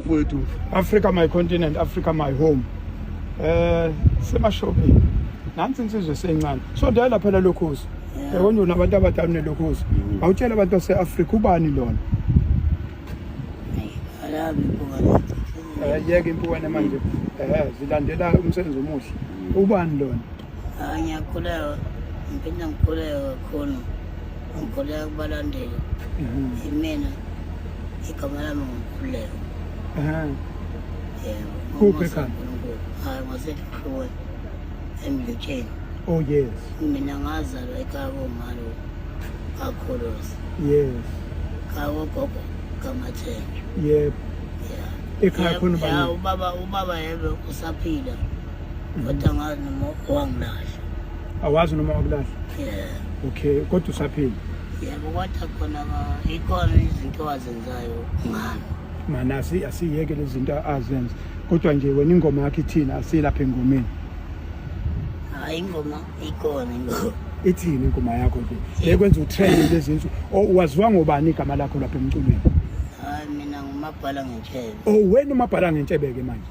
kwethu Africa my continent Africa my home eh semashopini nansi insizwe seyincane so dala phela lokhozi yabona una abantu abadala nelokhozi mm. awutshela abantu base Africa ubani lona alabi bukana eh yeke impukane manje eh zilandela umsebenzi omuhle mm. ubani lona Ah, ngiyakhuleka ngiphinde ngikhuleke kakhulu ngikhuleka kubalandeli imina igama lami ngukhuleko yebo Kuphi ekhanda? hayi ngwaseluhluwe emlutsheni oh yes mina ngazalwa ekhaya komalo kakhuluzi yes khaya kogogo kamathenjwa yebo yeah. Ekhaya khona ubani? Ya, ubaba ubaba yebe usaphila Kodwa angazi noma wangilahla. Awazi noma wakulahla? Yeah. Okay, kodwa usaphila? Yebo, kodwa khona ikhona izinto azenzayo ngami. Mana asiyeke lezi zinto azenza. Kodwa nje wena ingoma yakhe ithina asilapha engomeni. Hayi ingoma ikhona ingoma. ithini ingoma yakho nje ekwenza utrend lezi nsuku oh, waziwa ngobani igama lakho lapha emculweni hayi mina ngumabhala ngentshebe oh wena umabhala ngentshebe ke manje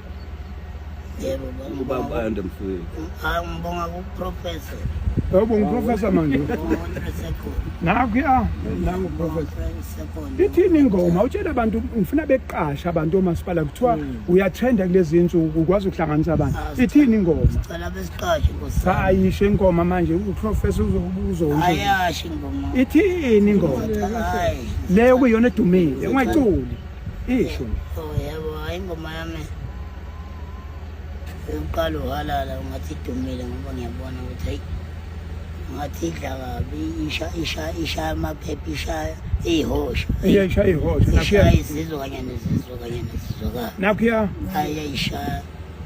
Yebo ubaba ayanda mfowethu. Hayi ngibonga ku professor. Yebo ngiprofessor manje. Nakho ya nangu professor. Ithini ingoma utshela abantu ngifuna beqasha abantu omasipala kuthiwa hmm. uyatrenda kulezi insuku ukwazi ukuhlanganisa abantu. Ah, Ithini ingoma? Sicela besiqashe nkosi. Cha ayisho ingoma manje uprofessor uzokubuza ukuthi. Ayasho ingoma. Ithini ingoma? Le okuyona edumile ungayiculi. Isho. Oh yebo hayi ingoma yami. Uqala uhalala ungathi idumile ngoba ngiyabona ukuthi hayi ngathi idla kabi isha isha isha amaphepha isha ihosha. Iyasha ihosha. Isha izizwa kanye nezizwa kanye nezizwa. Nakho ya. Ayayisha.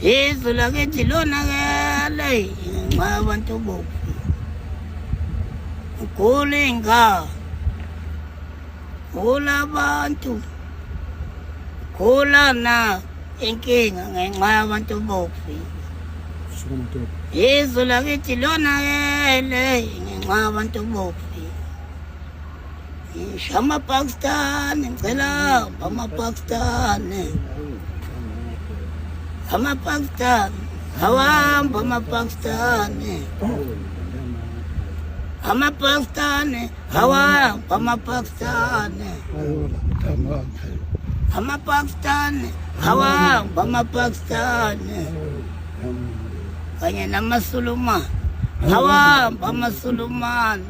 izwe lakithi lonakele ngenxa yabantu bobu ugula iy'ngane gula abantu gula na inkinga ngenxa yabantu bobu izwe lakithi lonakele ngenxa yabantu bobu Amapakistani ngicela amapakistani amapakistani awahamba amapakistani amapakistani awahamba amapakistani amapakistani awahamba amapakistani kanye namasulumane awahamba amasulumane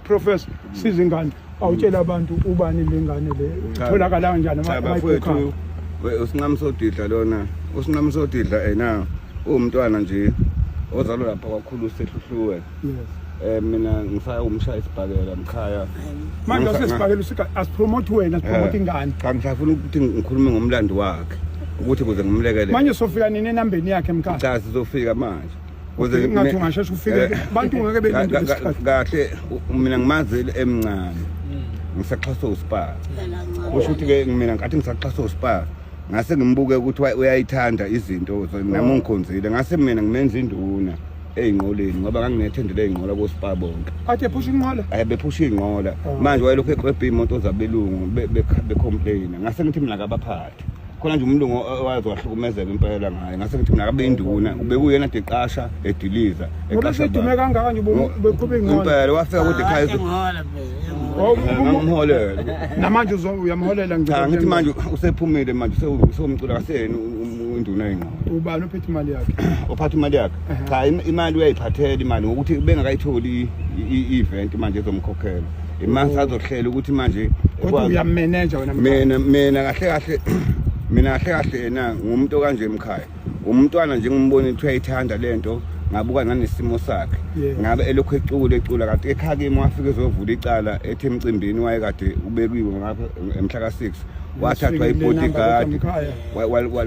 Professor siza ingane awutshela abantu ubani lengane le itholakala kanjani abayikukha usinqamsodidla lona usinqamsodidla ena uwumntwana nje ozalwa lapha kwakhulu sehluhluwe yes eh mina ngisaya umshaya isibhakela mkhaya manje usesibhakela usika asipromote wena sipromote eh, ingane cha ngisafuna ukuthi ngikhulume ngomlando wakhe ukuthi kuze ngimlekelele manje sofika nini enambeni yakhe mkhaya cha sizofika manje Kuze ngathi ungasheshe ufike eh, abantu ngeke belinde isikhathi. Kahle mina ngimazile emncane. Hmm. Ngisaxhasa uSpar. Kusho ukuthi ke mina ngathi ngisaxhasa uSpar. Ngase ngimbuke ukuthi uyayithanda izinto nami oh. ngikhonzile. Ngase mina ngimenza induna. eyinqoleni ngoba nganginethendele eyinqola kospa bonke athe phusha inqola ayi bephusha inqola oh. manje wayelokhu eqwebha imoto zabelungu becomplaina ngase ngithi mina kabaphathi khona nje umlungu owazi wahlukumezeka impela ngaye ngase ngithi mina kabe induna ubekuyena deqasha ediliza eqasha ubedume kangaka nje ubeqhube ingqondo impela wafika kude ekhaya ngimholela namanje uyamholela ngicela ngithi manje usephumile manje usewumcula kaseni induna yengqondo ubani ophethe imali yakhe ophatha imali yakhe cha imali uyayiphathela imali ngokuthi bengakayitholi i-event manje ezomkhokhela Imani sazohlela ukuthi manje kodwa uyamenenja wena mina mina kahle kahle mina kahle kahle yena ngumuntu kanje emkhaya umntwana nje ngimbona ukuthi uyayithanda lento ngabuka nanesimo sakhe ngabe elokhu ecula ecula kanti ekhaya kimi wafike ezovula icala ethi emcimbini wayekade ubekiwe ngapha emhla ka-6 wathathwa ibodyguard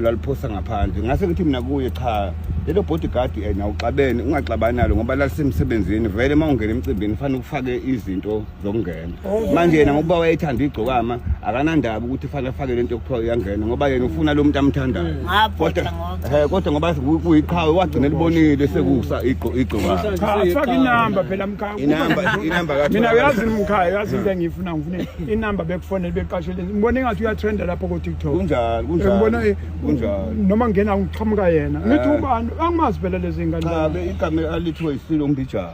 laliphosa ngaphandle ngase ngithi mina kuye cha lelo bodyguard eh, na uxabene ungaxabani nalo ngoba lalisemsebenzini vele uma ungena emcimbini fanele ufake izinto zokungena oh. manje yena ngokuba wayethanda igcokama akanandaba ukuthi fanele afake lento yokuthiwa uyangena ngoba yena ufuna lo muntu amthandayo hmm. kodwa eh, kodwa ngoba kuyiqhawe wagcina libonile sekusa igcokama cha faka inamba phela mkhaya inamba inamba mina uyazi mkhaya uyazi into engiyifuna ngifune inamba bekufonele beqasheleni ngibona engathi uyatrenda lapho ko-tiktok kunjalo kunjalo ngibona eh, kunjalo noma ngena ngiqhamuka yena Eh. ngithi ubani angimazi phela lezi cha ngane be igama alithiwe isilo umbijana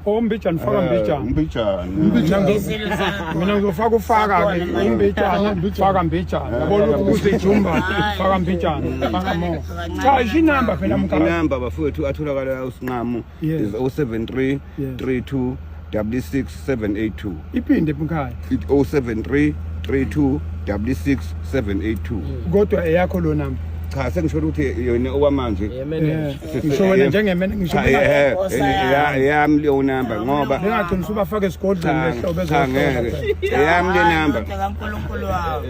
ombijana Oh, faka Eh, mbijana umbijana Umbijana. Ngezelo zakho. mina ngizofaka ufaka ke Akhona manje. imbijana faka mbijana Eh, yabona faka ukuthi jumba Hayi, faka mbijana faka mo Kancane. cha ishinamba phela mkaka inamba bafowethu atholakala usinqamu Yes. is 073 Yes. 32 66 782 iphinde mkhaya It 073 32 66 782 kodwa eyakho lo namba cha sengisho ukuthi yona okwamanje Eh, yemenenja ngisho wena njengemene ngisho Cha, benga- eh, eh, ya- yami leyo namba ngoba bengagcina usubafake esigodlweni cha, lehlo cha, bezohlola ngeke eyami le namba Kodwa kaNkulunkulu wami.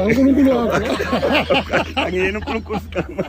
uNkulunkulu wakho angiyena uNkulunkulu siqhamuka.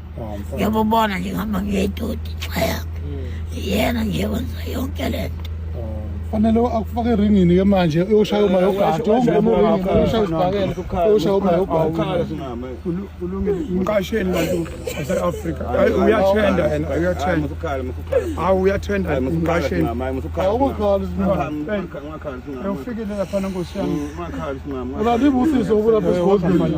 ngiyamubona nje ngihamba ngiyedoti chaya yena nje wenza yonke le nto fanele akufake eringini ke manje uyoshaya uma yogato uyoshaya isibhakela uyoshaya uma yogato mqasheni bantu base-afrika hayi uyathenda yena uyathenda hawu uyathenda mqasheni awukhali singamaufikelela phana nkosi yami ubabibusise ukulapha esigodlweni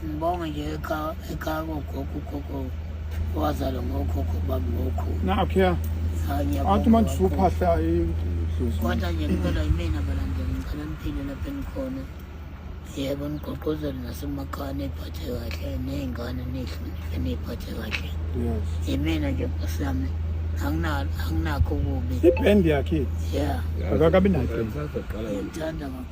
Sibonge nje ekhaya ekhaya kogogo ugogo wazalwa ngokhokho bami ngokhulu. Nakhe. Athi manje usuphahla idlozi. Kodwa nje ngicela yimina balandela ngicela niphile lapha engikhona. Yebo nigqogqozele nasemakhaya niphathe kahle ney'ngane nihloniphe niyiphathe kahle. Yes. Yimina nje bhasi yami anginakho kubi. Ibhendi yakhe. Yeah. Akakabi nayo. Ngithanda kakhulu.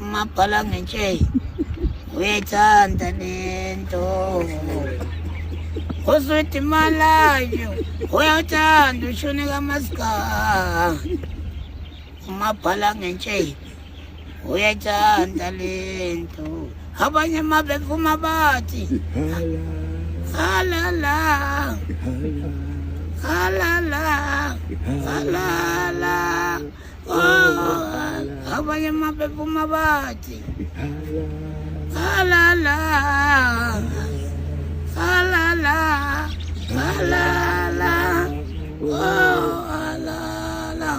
Umabhala ngentsheyi uyayithanda lento uswidi malayo uyawuthanda ushuni kamasika umabhala ngentsheyi uyayithanda lento abanye uma bevuma bathi halala halala halala abanye mabephuma bathi halala halala halala halala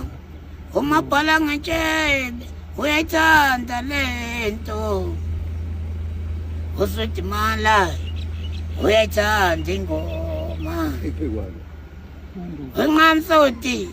umabhala ngetshebe uyayithanda le nto usudimala uyayithanda ingoma unqamsoti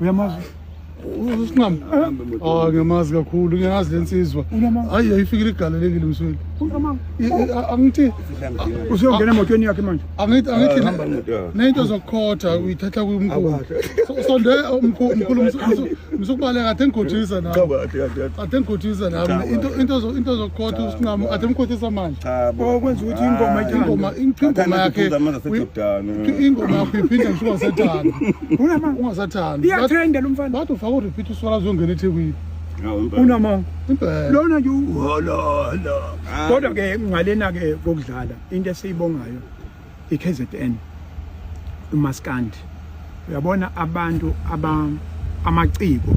uyamazi usinqam ah ngiyamazi kakhulu ngiyazi lensizwa hayi ayifikile igalelekile msweli angithi usuyongena emotweni yakhe manje angithi angithi ah, nento zokukhotha uyithatha kumkhulu sonde umkhulu msukubaleka athe ngikhothisa na athe ngikhothisa na into into into zokukhotha usinqam athe ngikhothisa manje okwenza ukuthi ingoma ingoma ingoma yakhe ingoma yakhe iphinde ngisuka sethanda unamanga ungasathandi iyathenda lo mfana bathi ufaka urepeat uswala zongena ethekwini unamanga lona nje uhololo kodwa ke ngalena ke kokudlala into esiyibongayo iKZN umaskandi uyabona abantu aba amaciko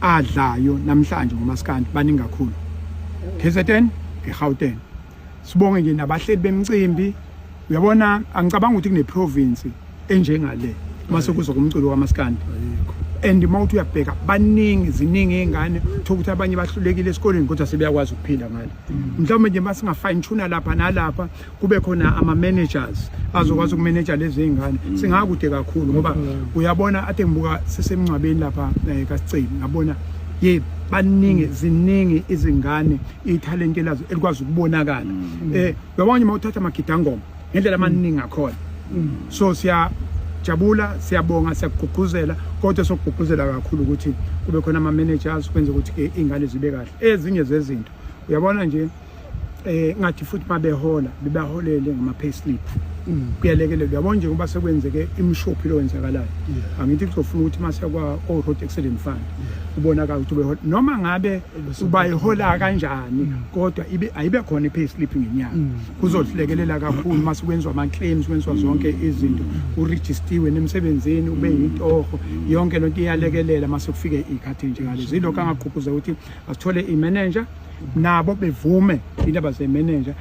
adlayo namhlanje ngomaskandi baningi kakhulu KZN eGauteng sibonge nje nabahleli bemcimbi uyabona angicabanga ukuthi kuneprovince enjengale uma sekuza kumculo kamaskandi and uma uthi uyabheka baningi ziningi iy'ngane thola ukuthi abanye bahlulekile esikoleni kodwa sebeyakwazi ukuphila ngale mm. mhlawumbe nje uma singafine tuna lapha nalapha kube khona ama-managers azokwazi mm. ukumeneja lezi y'ngane mm. singakude kakhulu ngoba uyabona ade ngibuka sisemngcwabeni lapha um eh, kasicini ngabona ye baningi ziningi izingane ithalente lazo elikwazi ukubonakala mm. eh yabanye uma uthatha amagidangoma ngendlela amaningi akhona mm. so siya jabula siyabonga siyakugqugquzela kodwa sokugqugquzela kakhulu ukuthi kube khona ama managers kwenze ukuthi ke ingane zibe kahle ezinye zezinto uyabona nje eh ngathi futhi mabehola bebaholele ngama pay slip mm. kuyalekelela uyabona nje ngoba sekwenzeke imshophi lowenzakalayo angithi kuzofuna ukuthi mase kwa o road accident fund ubonakala ukuthi behola noma ngabe uba ihola kanjani mm. kodwa ibe ayibe khona i-pay slip ngenyanga mm. kuzohlekelela kakhulu uma sekwenziwa ama-claims kwenziwa mm. zonke izinto urejistiwe nemsebenzini ube yintoho yonke lento iyalekelela uma sekufike iy'khathi njengalezo yilokho angagqugquza ukuthi asithole i-manager nabo bevume indaba ze-manager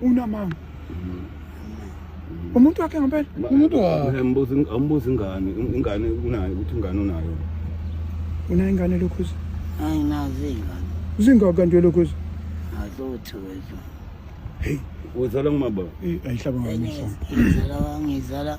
unamanga umuntu wakhe ngempela umuntu wakhe ambuza ambuza ingane ingane unayo ukuthi ingane unayo unayo ingane lokhuza hayi nazi ingane zingaka nje lokhuza azothu wethu hey uzala ngumaba ayihlaba ngami ngizala ngizala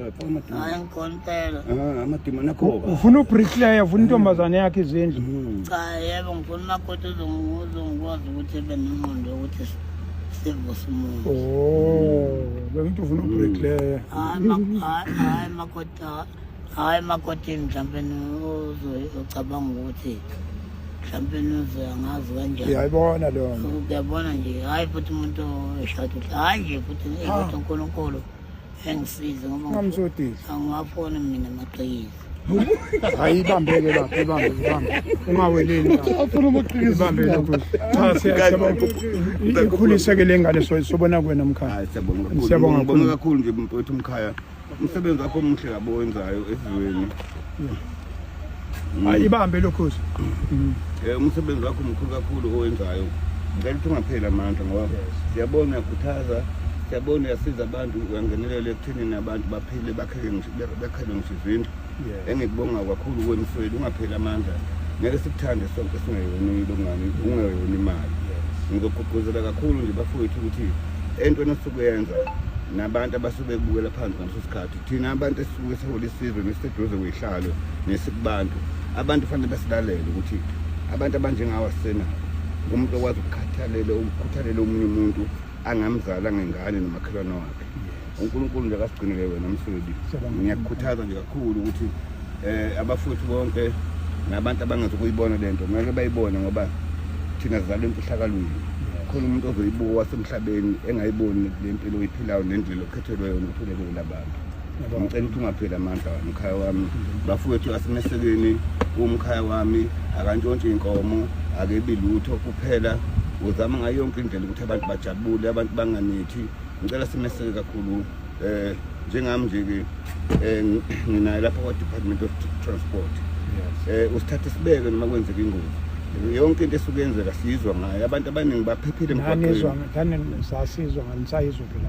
hayi angikhona impela Ah, amadima nakho ufuna ubricklayer ufuna intombazane yakhe izindlu Mm. cha yebo ngifuna umakoti uzongi- uzongikwazi ukuthi ebe nenqondo yokuthi si- sivuse umuntu oh bengithi ufuna ubricklayer hayi ma- hayi- hayi makoti ha- hayi makotini mhlawumpe ucabanga ukuthi mhlawumpe uzoyangazi kanjani uyayibona leyo nto uyabona nje hayi futhi umuntu eshada uthi hayi nje futhi ukuthi unkulunkulu engisize ngoba ungamsodisi angiwafoni mina amaqiniso hayi ibambeke lapho ibambe ibambe ungaweleli afuna umaqiniso ibambe lokho cha siyabonga ikhuliseke le ngane sobona kuwena mkhaya siyabonga kakhulu nje mfowethu mkhaya umsebenzi wakho omuhle kabi owenzayo esizweni hayi ibambe lokhozi um eh, umsebenzi wakho mkhulu kakhulu owenzayo ngicela ukuthi ungapheli amandla ngoba siyabona uyakhuthaza siyabona uyasiza abantu uyangenelela ekuthenini abantu baphile bakhele ngisho izindlu engikubonga kakhulu kwemsweli ungapheli amandla ngeke sikuthande sonke singayonile ungani ungayona imali ngizogqugquzela kakhulu nje bafowethu ukuthi entweni osuke yenza nabantu abasuke bebukela phansi ngaleso sikhathi thina abantu esisuke sihole isizwe nesiseduze kuyihlalwe nesikubantu abantu fanele basilalele ukuthi abantu abanjengawo asisenabo umuntu okwazi ukukhathalela ukukhuthalela omunye umuntu angamzali angengane nomakhelwane wakhe unkulunkulu nje akasigcinele wena msweli ngiyakukhuthaza nje kakhulu ukuthi um abafowethu bonke nabantu abangazi ukuyibona le nto kumele bayibone ngoba thina zizalwe emfihlakalweni khona umuntu ozoyibuka wasemhlabeni engayiboni le mpilo oyiphilayo nendlela Thelwe yona uthelekele abantu. Ngicela ukuthi ungapheli amandla umkhaya wami. Bafowethu asimesekeni umkhaya wami akantshontshe inkomo akebi lutho kuphela uzama ngayo yonke indlela ukuthi abantu bajabule abantu banganithi ngicela simeseke kakhulu eh njengami nje ke eh, nginaye lapha kwa Department of Transport eh usithathe sibeke noma kwenzeka ingozi yonke into esuke yenzeka siyizwa ngayo abantu abaningi baphephile emgwaqweni ngane sasizwa nganisayizwa phela